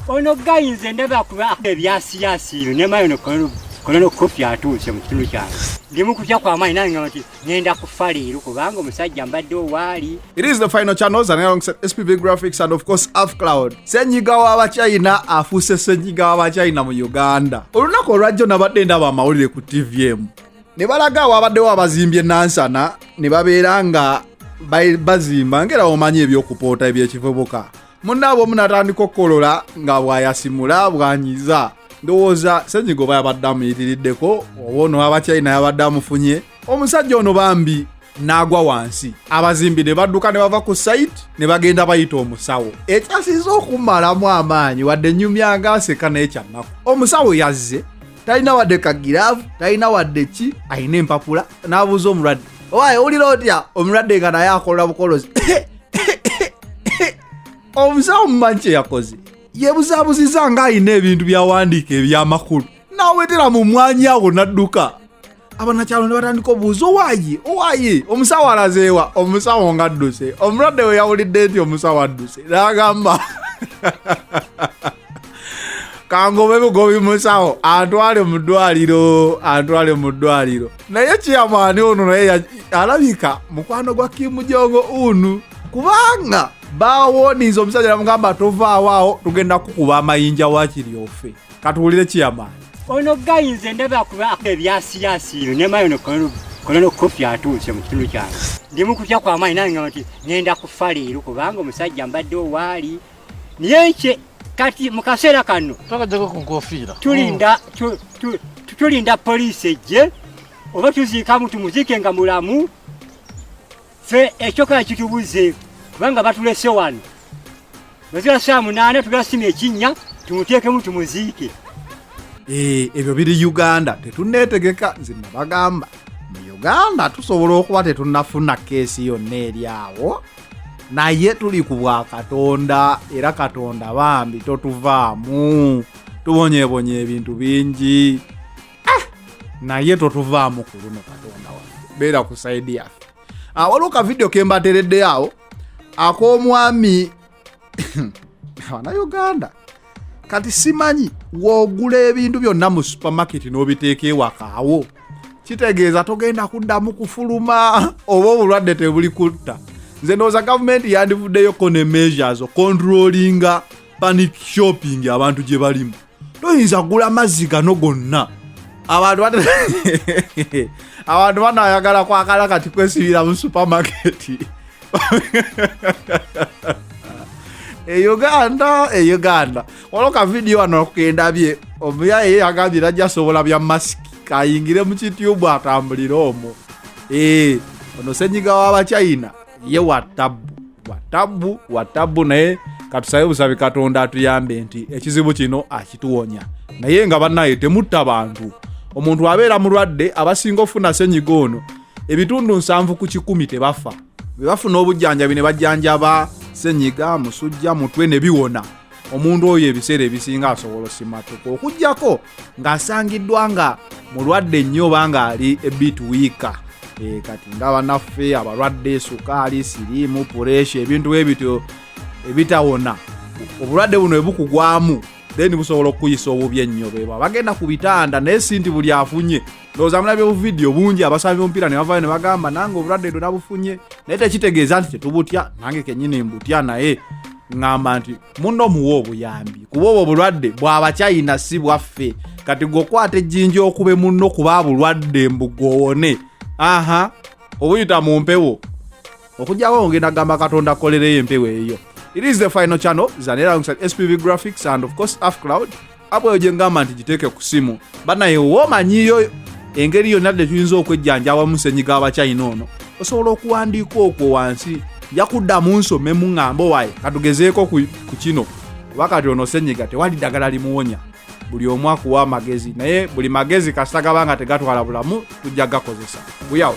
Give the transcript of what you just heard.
ono gayi nze ndaba kuba ebyasiyasiiro nemayo nokola nokufi atuuse mu kitundu kyange ndimu kutya kwamaanyi nange nti ngenda kufa leero kubanga omusajja mbadde owaali it is the final channels and alongside spv graphics and of course afcloud senyiga w'abachina afuuse senyiga w'abachina mu uganda olunaku olwajjo nabadde ndaba amawulire ku tv emu ne balaga awaabaddewo abazimbye nansana ne babeera nga bazimba ngera omanyi ebyokupoota ebyekivubuka munaabwe omu natandika okukolola nga bwayasimula bwanyiza ndowooza senyiga oba yabadde amuyitiriddeko oba ono abakyayina yabadde amufunye omusajja ono bambi n'agwa wansi abazimbi ne badduka ne bava ku sayiti ne bagenda bayita omusawo ekyasinza okumalamu amaanyi wadde nyumya nga aseka naye kyannaku omusawo yazze talina wadde kagiravu talina wadde ki alina empapula n'abuuza omulwadde owaye owulira otya omulwadde nga naye akolola bukolozi omusawo mumanyi kye yakoze yebuzabuziza nga alina ebintu byawandiika ebyamakulu n'awetera mu mwanya awo n'adduka abanakyalo ne batandika obuuza owaye owaye omusawo alazeewa omusawo nga adduse omulwadde we yawulidde nti omusawo adduse nagamba kangobe bugobi musawo antwale mu ddwaliro antwale mu ddwaliro naye kiyamaani ono naye alabika mukwano gwa kimujongo unu kubanga bawoniza omusajja namugamba tovaawo awo tugenda kukuba amayinja wakiryofe katuwulire kiyama ono gayi nze ndaba akuba ebyasiyaasi yo nemayo nokolona okukofi atuuse mu kitundu kyange ndimu kutya kwamaanyi nange nti ngenda kufa leero kubanga omusajja mbadde owaali naye kye kati mu kaseera kano twakajjako ku nkofiira tulinda mm. tulinda poliisi ejje oba tuziikamu tumuziike nga mulamu Ffe ekyoka kitubuze kubanga batulese wano mazira saa munaana tugasima ekinnya tumuteekemu tumuziike. Eh, ebyo biri Uganda tetuneetegeka nze nabagamba mu Uganda tusobola okuba tetunafuna keesi yonna eri awo naye tuli ku bwa katonda era katonda bambi totuvaamu tubonyebonye ebintu bingi ah! naye totuvaamu ku luno katonda wa beera ku saidi yaffe ah, waliwo ka vidiyo kembatereddeyo awo ak'omwami abanauganda kati simanyi wogula ebintu byonna mu supamaketi n'obiteeka ewakaawo kitegeeza togenda kuddamu kufuluma oba obulwadde tebuli kutta nze ndowooza gavumenti yandivuddeyoko ne measures okontrolinga panic shopping abantu gye balimu toyinza gula mazzi gano gonna abantu abantu banayagala kwagala kati kwesibira mu supamaketi e uganda e uganda waliwo kavidiyo wano kukendabye omuyaye yagambye najja sobola bya masiki kayingire mu kitubu atambulire omwo ee eh, ono senyiga w'abachina ye watabbu watabbu watabbu naye katusabe busabi katonda atuyambe nti ekizibu kino akituwonya naye nga banaye temutta bantu omuntu abeera mulwadde abasinga ofuna senyiga ono ebitundu nsanvu ku kikumi tebafa bebafuna obujjanjabi ne bajjanjaba senyiga musujja mutwe ne biwona omuntu oyo ebiseera ebisinga asobola osimatuka okugyako ng'asangiddwa nga mulwadde nnyo oba ng'ali ebit wiika eh, kati nga banaffe abalwadde sukaali siriimu puresha ebintu bwe bityo ebitawona obulwadde buno ebukugwamu then busobola okukuyisa obubi ennyo bebwa bagenda ku bitanda naye si nti buli afunye ndowooza mulabye obuvidiyo bungi abasabi bomupiira ne bavayo ne bagamba nange obulwadde ndo nabufunye naye tekitegeeza nti tetubutya nange kenyini mbutya naye ŋŋamba nti muno muwa obuyambi kuba obwo obulwadde bwabakyayina si bwaffe kati gweokwata ejjinja okube muno kuba bulwadde mbugwowone aha obuyita mu mpewo okujjawo ngenda gamba katonda kolereyo empewo eyo it is the final channel zanera alongside spv graphics and of course af cloud apo eyo gyengamba nti giteeke ku simu banaye womanyiyo engeri yonna de tuyinza okwejjanjaba musenyiga abachina ono osobola okuwandiika okwo wansi nja kuddamu nsome muŋŋambo waye katugezeeko ku kino kuba kati ono senyiga tewali ddagala limuwonya buli omu akuwa amagezi naye buli magezi kasita gaba nga tegatwala bulamu tujja gakozesa guyawo